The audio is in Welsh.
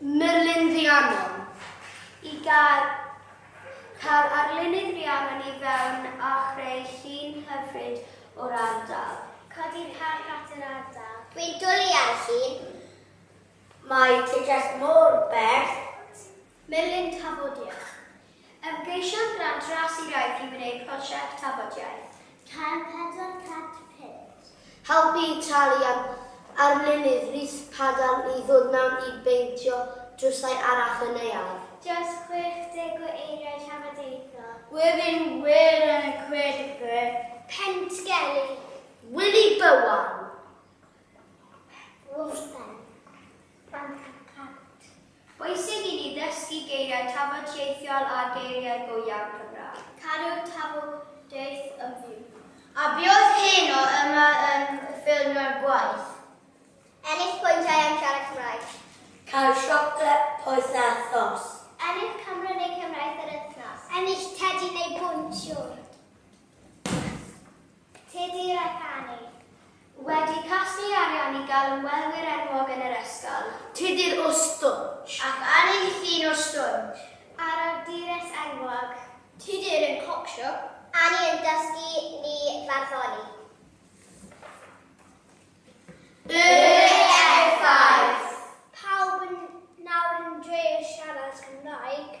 Merlin Rhiannon. I gael cael arlunydd Rhiannon i fewn a chreu llun hyfryd o'r ardal. Codi'r parc at yr ardal. Dwi'n dwli ar llun. Mae ti jyst mor bert. Merlin Tafodiaith. Ymgeisiodd Grant Ras i Raith i wneud prosiect tafodiaith. Cael pedwar cant punt. Helpu Italian arlunydd Rhys Padarn i ddod mewn i beintio drwsau arall y neuadd. Dros 60 o eiriau trafodaethol. Gwefin wir yn y Coedwig. Pentgelli. Wili Bowen. Wrthben. Plant a Plant. Bwysig i ni ddysgu geiriau tafodieithiol a geiriau go iawn Cymraeg. Cadw tafodieith yn fyw. A biodd heno yma yn ffilmio'r gwaith. Ennill pwyntiau am siarad Cymraeg. Cael siocled poeth a thos. Ennill camera neu cefnraeth yr wythnos. Ennill tedi neu bwnt siorj. Tydi Ragani wedi casglu arian i gael ymwelwyr enwog yn yr ysgol. Tydi'r Ustwrn ac Anni'n llun o stwrn. A'r awdures enwog. Tydi'r un pop siop. Anni yn dysgu ni farddoni. Yr effaith! Pawb yn nawr yn drio siarad Cymraeg.